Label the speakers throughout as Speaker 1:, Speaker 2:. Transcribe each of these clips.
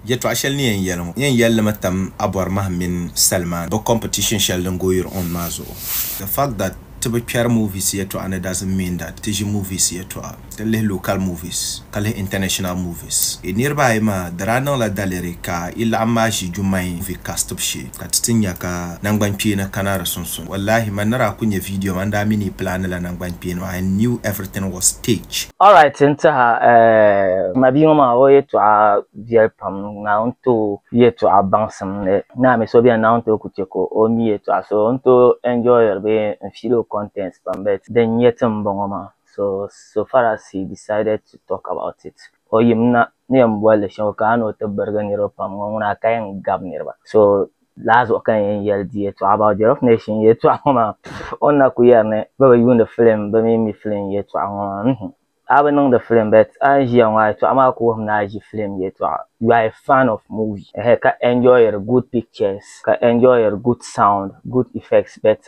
Speaker 1: Yɛtɔɣ shɛli ni yɛn yɛli ŋɔ, n yɛn yɛli li mi tam Abɔrimahi mini Salman bɛ competition shɛli din goyiri on maa zuɣu. The fact that ti bi kpɛri movies yɛtɔɣa ni doesn't mean that ti ʒi movies yɛtɔɣa. Ti lihi local movies ka lihi international movies. Yi niriba ayi maa di daa niŋla daliri ka yi laɣim maa ʒi Jummai movie castib shee. ka ti ti nya ka nangbankpeeni kana di sunsuuni. Wallahi man ni daa ku nya video maa n daa mi ni yi planila nangbankpeeni maa, I knew everything was staged. Alright n tiɛha eh ma bia ŋɔ maa o yɛtɔɣa viɛli pam naawuni ti o yɛtɔɣa baŋsim ni naa mi so bɛni naawuni ti o ku chɛ ka o mi yɛtɔɣa so n ti o enjoyiri bee n feel o content pam but din nyɛ ti m bɔŋɔ maa so so far as he decided to talk about it o yim na ni yɛn boli li shɛm ka a ni o ti birigi niriba pam ŋɔ ŋuna ka yɛn gabi niriba so laa zuɣu ka yɛn yɛli di yɛltɔɣa about the rough nation yɛltɔɣa ŋɔ maa pff o ni na ku yɛri ni bɛ bi yuuni film bɛ mi mi film yɛltɔɣa ŋɔ maa mhim a bi niŋdi film but a ni ʒiya ŋɔ a yɛltɔɣa maa ku wuhim ni a ʒi film yɛltɔɣa you are a fan of movie ɛhɛɛ ka enjoyiri good pictures ka enjoyiri good sound good effects but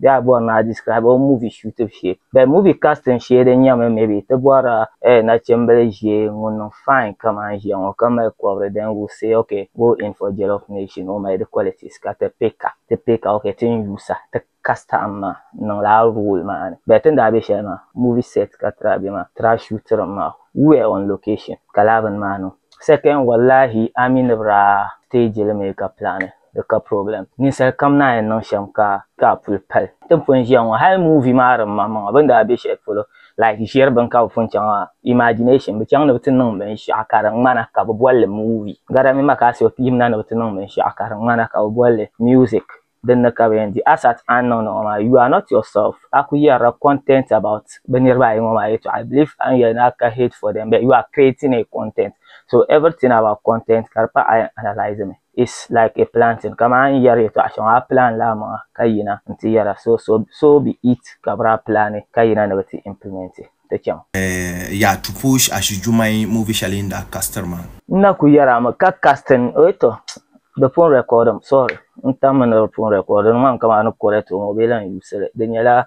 Speaker 1: bɛ a bɔri ni a describe o movie shootibu shee bɛ movie casting shee din nyɛmi maybe ti bɔrila eh nachimbili ʒee ŋun niŋ fine kaman ʒiya ŋɔ ka mali kɔbiri then we say ok go in for jollof nation o mali di qualities ka ti pick a ti pick a ok tin yuusi a ti cast a m ma n niŋla a role maa ni bɛ tin daa be shɛli maa movie set ka ti daa be maa ti daa shootiri mi maa we were on location ka lala bini maa niŋ second wallahi a mi ni bi daa stage li mi ka plani Di ka problem. Ninsali kam naan yi niŋ shɛm ka ka a puli pali. Ti ni pun ʒiya ŋɔ hali movie maa din maŋ maŋa bini daa be shɛli polo like ʒiri bini ka bi pun chaŋ maa imagination bi chaŋ ni bi ti niŋ binshɛɣu ka di ŋmana ka bi boli li movie gari mini ma ka a so yim na ni bi ti niŋ binshɛɣu ka di ŋmana ka bi boli li music din ni ka bi yɛn di as at a ni niŋdi ŋɔ maa you are not yourself a ku yɛrila content about bi niriba ayi ŋɔ maa yɛtɔɣa I believe a ni yɛli ni a ka hate for them but you are creating a content so everything about content ka di pa a yɛn analysing mi. is like a planting kaman n yɛri yɛtɔɣa shɛŋa a plan la amaŋa ka yina n ti yɛra so so so be it ka biri a plan ka yina ni bi ti implement ti chaŋ. Yaa Tuposh Ashu Jumai movie shɛli n daa castir maa. N na ku yɛri a mi ka casting o tɔ di pun record mi sorry n tam mi ni di pun record di niŋ ma mi ka maa ni correct o ŋɔ bee lan use li di nyɛla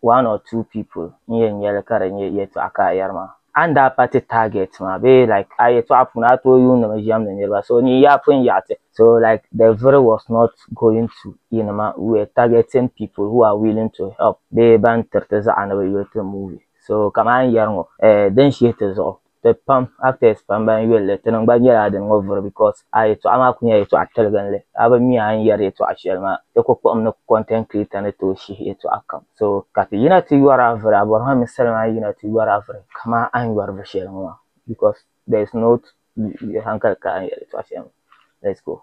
Speaker 1: one or two people n yɛn nyɛli ka di nyɛ yɛltɔɣa ka a yɛri maa. A ni daa pa ti target maa bee like a yɛltɔɣa puuni a tooi yuuni mi ʒɛmdi niriba so ni yaa pun yaɣi ti so like the viri was not going to yi ni ma we were targeting people who are willing to help bee ban tiri ti zaɣa ni bi yuli ti movie so ka maa n yɛri ŋɔ eh din shihi ti zuɣu. ti pam actors pam ban yuli li tinim gba nyɛla din ŋɔ vuri because a yɛtɔɣa maa kuli nyɛla yɛtɔɣa tiliginli a bi mi a ni yɛri yɛtɔɣa shɛli maa di ku kpuɣim ni content creator ni tooi shihi yɛtɔɣa kam so ka ti yina ti yɔri a vuri a bɔrimi mi salima a ni yina ti yɔri a vuri kaman a ni yɔri vuri shɛli ŋɔ maa because there is no hankali ka a ni yɛri yɛtɔɣa shɛli maa let's go.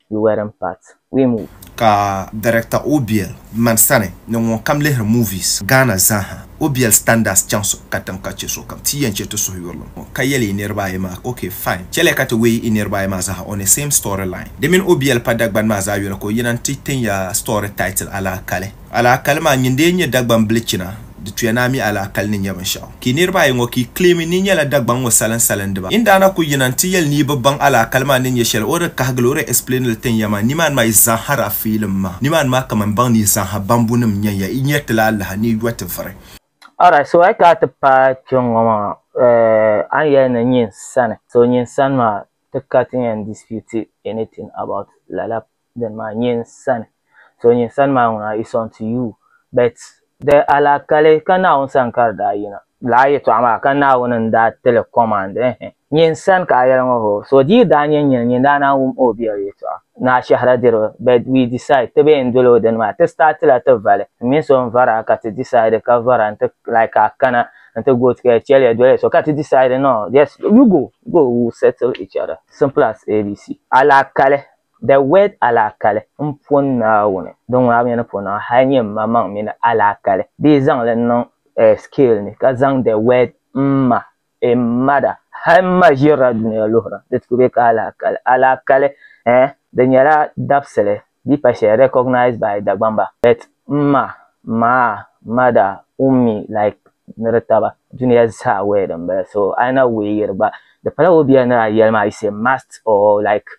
Speaker 1: You weren't part. We move. Ka director Obiel mani sani ni ŋun kam lihiri movies Ghana zaaha. Obiel standards chaŋ so katiŋ ka che sokam ti yen che ti suhuyurlim ŋɔ ka yeli yi niriba ayi maa ok fine cheliya ka ti weei yi niriba ayi maa zaaha on a same story line. Di mini Obiel pa Dagbani maa zaa yoli ka o yina n-ti tin ya story title Alaakali. Alaakali maa nyin dee nyɛ Dagbaŋ bilichina di tuya ni a mi alaakali ni nyɛ binshɛɣu ka yi niriba ayi ŋɔ ka yi kileemi ni yi nyɛla Dagbaŋ ŋɔ salinsalindiba. Yin daa na ku yina n-ti yɛli ni yi bi baŋ alaakali maa ni nyɛ shɛli o di kahigili o di explaini li tin ya maa nimaani maa yi zaŋ hara fiilim maa nimaani maa kaman n baŋ ni yi zaŋha bambunim n-nya ya yi nyari ti la alaha ni yi yɔh ti vuri. Alright so a yi kana ti paai kpe ŋɔ maa eh a ni yɛli ni nyin sani so nyin sani maa ti ka ti yɛn dispute anything about lala. then maa nyin sani. So nyin sani maa ŋuna is unto you. But di alaakali ka Naawuni sani ka di daa yina. Lala yɛtɔɣa maa ka Naawuni n daa ti li command ɛɛhɛ. Nyin sani ka a yɛli ŋɔ hoo. So di yi daa nyɛ nyin nyin daa naan wum o biɛri yɛtɔɣa ni a shɛhira diriba. But we decide ti bee n doli o dini maa ti start la ti vali. N mini so n vari a ka ti decide ka vara nti like ka a kana nti go ti kaya chɛliya doliya so ka ti decide no just you go go we will settle each other simple as ABC. Alaakali The word alaakali m po Naawuni, di ŋmaami ni po Naawuni, hal nyɛ mmaŋmaŋ mi ni alaakali, bee zaŋ li niŋ eh scale ni ka zaŋ the word mma, a mother, hal mma ʒirila dunia luhira di ti ku be ka alaakali. Alaakali eh di nyɛla dabisili bee pa shɛli recognized by Dagbamba but mma, maa, mother, ummi like ni di taba dunia zaa word m-bala so a yi na weeyiri gba di pala o bia ni a yɛli maa you say must or like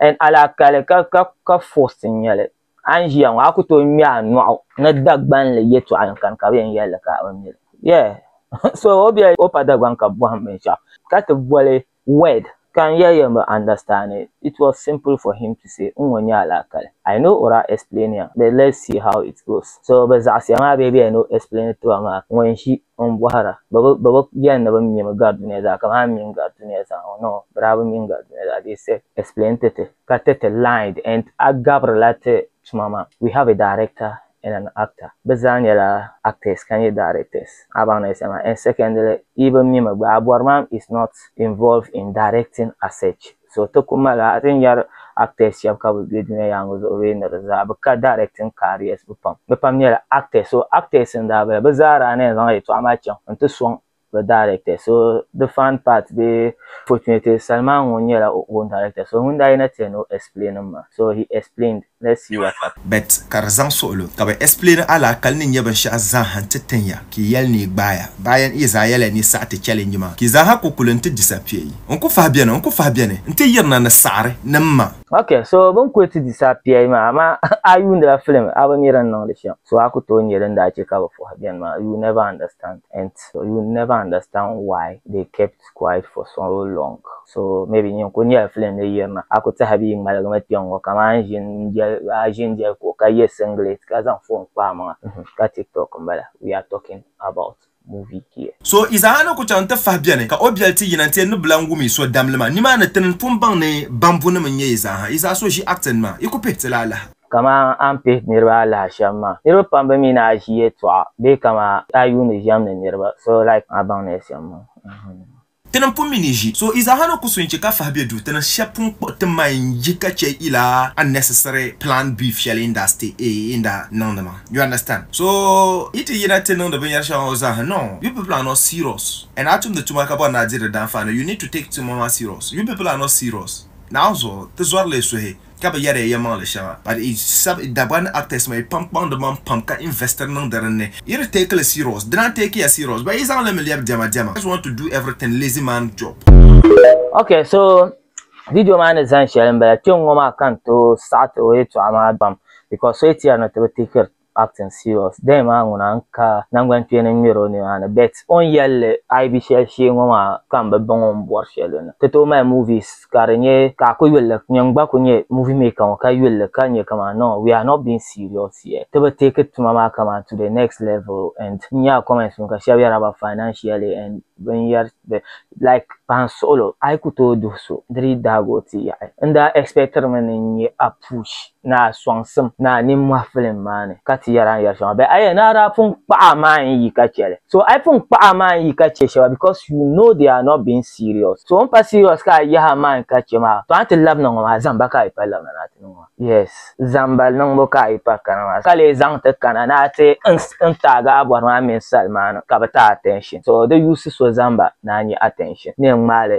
Speaker 1: and alaakali ka ka ka force n nyɛli a ni ʒiya ŋɔ a ku tooi ŋmɛ a nɔɣu ni Dagbanli yɛtɔɣa yɛn kani ka bɛ yɛn yɛli li ka o mili yeah so o bɛ o pa Dagbaŋ ka bɔhim binshɛɣu ka ti boli word ka n yɛli yɛn bi understand it it was simple for him to say n ŋɔ nyɛ alaakali I know o daa explain ya but let's see how it goes so bɛ zaɣisiya maa bee bɛ yɛn ni o explain ti ba maa ŋun ʒi Ŋun bɔhira, bɛ bi, bɛ bi yɛli ni bɛ mi mi gari dunia zaa, kaman a mi mi gari dunia zaa ŋɔ? Noo, bɛ daa bi mi mi gari dunia zaa. They said, Explain to ti, ka ti ti lied and a gabirila ti tuma maa. We have a director and an actor, bɛ zaa nyɛla actors ka nyɛ directors. A baŋ ni yi sani maa. And secondly, yi bi mi mi gba, a bɔri maa is not involved in directing as such. So ti ku mali a ti ni yɛri actors shɛba ka bɛ be dunia yaaŋa zuɣu bee ni di zaa bi ka directing careers bɛ pam bɛ pam nyɛla actors so actors n daa bala bɛ zaa daa ni yɛn zaŋ yɛltɔɣa maa chaŋ n ti sɔŋ bɛ directors so the fun part bee fortunately Salman ŋun nyɛla o own director so ŋun daa yina ti yɛn ni o explain m ma so he explained ni si wa tap. Bet ka di zaŋ suɣilo ka bɛ explaini alaakali ni nyɛ binshɛɣu zaaha nti tin ya ka yi yɛli ni yi gbaai ya. Bayan yi zaa yɛli ya ni yi saɣi ti challenge maa ka yi zaaha ku kuli nti disappear yi. N ku fahi beni, n ku fahi beni nti yirina ni saɣiri ni m ma. Ok, so bini kuli ti disappear yi maa amaa a yuundila film a bi mi din niŋdi shɛm so a ku tooi nya din daa chɛ ka bɛ fahi beni maa you never understand and you never understand why they kept kept quiet for so long. So maybe nyin ku nyɛla film ni yirina. A ku tahi bia ŋmaligimi kpɛŋŋɔ kamani a ʒini n-jɛli a ʒini jɛli kuɣu ka ye singlet ka zaŋ phone kpa a maŋa ka tiktok m-bala. We are talking about movie here. So Isaiah ni ku chaŋ nti fahi bɛni ka o biɛli ti yina nti ni bi lan wumi so damlima nimaani ti ni pun baŋ ni bambunim n-nyɛ yi zaaha. Yi zaa so ʒi acting maa yi ku pihi ti la alaha. Kaman a ni pihi niriba alaha shɛm maa. Niriba pam bi mi ni a ʒi yɛltɔɣa bee kaman a yuuni ʒiɛm ni niriba so like a baŋ ni shɛm maa. Ti ni pun mi ni ʒi so izaha ni ku so n-chɛ ka fahi be du, ti ni shɛb pun kpuɣi ti maŋ n-yi ka chɛ ila unnecessary planned beef shɛli n daa stay a n daa niŋdi maa. You understand? So yi ti yina ti niŋdi binyɛr shɛŋa ŋɔ zaa ha no, you people are not serious and a tumdi tuma ka bɔri ni a di di daanfaani you need to take tuma maa serious. You people are not serious. Naawuni zuɣu ti zɔri li suhi ka bi yɛri ya yɛlimaŋli shɛŋa but yi sab yi Dagbani actors maa yi pam kpaŋdi maŋ pam ka investiri niŋdi din ni yi di take li serious dina n take ya serious ba yi zaŋ li mi lɛbi dɛma dɛma just want to do everything lazy man job. Ok so video maa ni zani shɛli n bala kpɛŋŋo maa ka n tooi saɣiti o yɛltɔɣa maa pam because so yi ti yɛri ni ti bi tikiri acting serious dee maa ŋuna n ka nangbankpeeni n ŋmeri o nina ni bet o ni yelli ayi bi sheli shee ŋɔ maa ka m bi baŋ o ni bori sheli ni ti tooi mali movies ka di nye ka a ku yulli nyin gba ku nye movie maker ŋɔ ka yulli ka nye kaman no we are not being serious here ti bi take tuma maa kaman to the next level and n nya comments ŋɔ ka sheba yera ba financially and bin yer like pahin suɣilo a yi ku tooi duhi so di dii daagi o ti yaɣi n daa expectiri mi ni n nye a push Naa sɔŋsim naa nimmɔhi filim maa ni ka ti yɛri a ni yɛri shɛŋa bɛ ayya naa daa pun kpaɣi a maa n-yi ka che li so a yi pun kpaɣi a maa n-yi ka che shɛba because you know they are not being serious so o ni pa serious ka a yahi a maa n-yi ka che maa to a ni ti labina ŋɔ maa zamba ka a yi pa labina ni a ti niŋ maa yes zamba niŋbu ka a yi pa kana maa ka lee zaŋ ti kana ni a ti n taagi a bɔri maa mini sali maa ni ka bɛ ti attention so di yuusi so zamba ni a nya attention ni yɛn ŋmaai li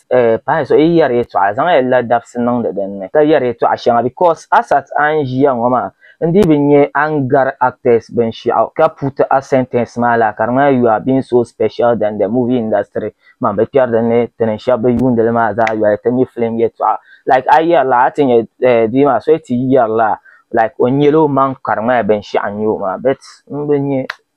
Speaker 1: eh, pahi so yi yɛri yɛtɔɣa zaŋya la dabisi niŋdi din ni ka yɛri yɛtɔɣa shɛŋa because asat a ni ʒiya ŋɔ maa n dii bi nya a ni gari actors binshɛɣu ka puti a sentence maa laa ka di ŋmanila you are being so special than the movie industry man bi kpɛri din ni ti niŋ shɛba bi yuundi li maa zaa yoli ti mi film yɛtɔɣa like a yɛri la a ti nya eh, bia maa so yi ti yɛri la like o nyɛla o maŋ ka di ŋmanila binshɛɣu n-nyɛ o maa but n bi nya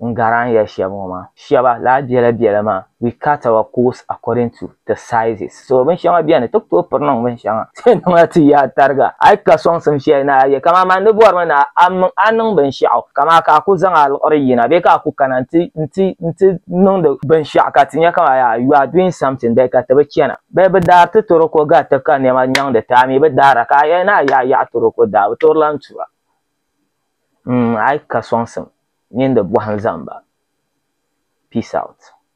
Speaker 1: n garan ya shɛb ŋɔ maa, shɛba laa biɛla biɛla maa, we cut our coats according to the sizes, so binshɛŋa beni ti ku tooi piri niŋ binshɛŋa, ti niŋla ti yaha tariga, a yi ka sɔŋsim shɛli ni a yɛ, kaman man di bɔrimi ni a niŋ binshɛɣu, kaman ka a ku zaŋ a liɣiri yina, bee ka a ku kana nti niŋdi binshɛɣu ka ti nya kaman yaa you are doing something, bee ka ti bi chana, bee bɛ daari ti toroko gari ti ka nɛma nyaŋdi ti, a mi bi daara, ka a yɛli ni a yahi yaɣi toroko daa bi toori lan tura. mm a yi ka sɔŋsim mini di bɔhim zaŋ ba peace out.